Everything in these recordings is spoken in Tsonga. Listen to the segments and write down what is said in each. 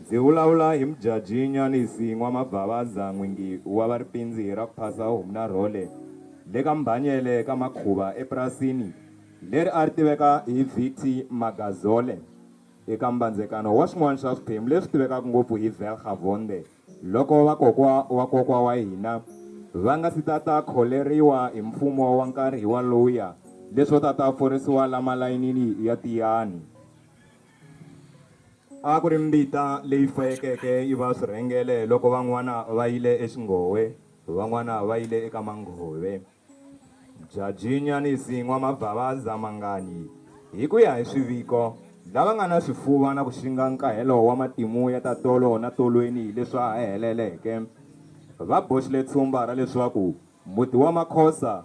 Ndzi vulavula hi Mudjadji Nywanisi N'wamabvavadza n'wingi wa va Ripindzi ra ku phasa Humna Role le ka Mbhanyele ka Makhuva epurasini leri a ri tiveka hi Viti Magazole eka mbandzekano wa swin'wana swa swiphemu leswi tivekaka ngopfu hi Vergavonde loko vakokwa wa kokwa wa hina va nga si ta ta kholeriwa hi mfumo wa nkarhi waluya leswo ta ta forisiwa la malayinini ya Tiyani. A ku ri mbita leyi fayekeke yi va swirhengele loko van'wana va yile exinghowe, van'wana va yile eka manghove. Jajinya ni Sin'wa Mavhavaza Manganyi, hi ku ya hi swiviko, lava nga na swifuva na ku xinga nkahelo wa matimu ya ta tolo na tolweni hi leswa ha heleleke, va boxile tshumba ra leswaku muti wa Makhosa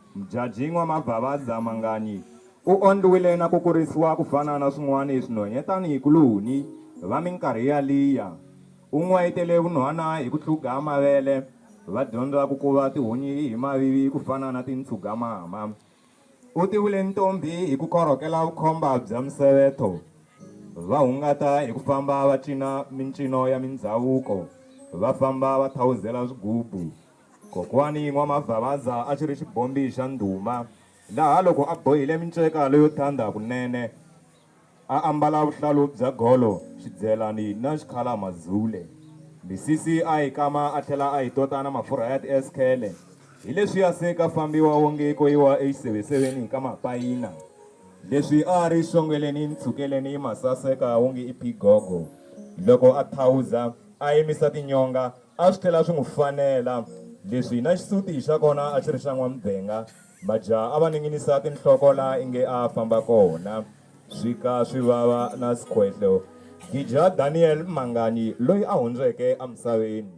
Mjajin'wa Mavhavaza Mangani u ondliwile na ku kurisiwa ku fana na swin'wani swinhonye tani hi kuluhuni va minkarhi ya liya. U n'wayitele vunhwana hi ku tlhuga mavele, va dyondza ku kuva tihunyi hi mavivi ku fana na tintshugamama. U tivule ntombhi hi ku korhokela vukhomba bya misevetho, va hungata hi ku famba va cina mincino ya mindzhavuko, va famba va thawuzela swigubu. Kokwani N'wa-Mavhavaza a xi ri xibombi xa ndhuma laha loko a bohile minceka leyo thanda kunene, a ambala vuhlalu bya golo, xidzelani na xikhala-mazule. Misisi a yi kama a tlhela a yi tota na mafurha ya ti-eskhele. Hi leswiya se ka fambiwa wonge ko yiwa exiseveseveni ka mapayina. Leswi a a ri xongeleni ntshukeleni ma saseka wonge i phigogo. Loko a thawuza, a yimisa tinyonga, A swi tlhela swi n'wi fanela leswi na xisuti xa kona a xi ri xa n'wamdzenga. Majaha a va ninginisa tinhloko laha inge a a famba kona swi ka swi vava na skhwehlo. Gija Daniel Mangani loyi a hundzeke emisaveni.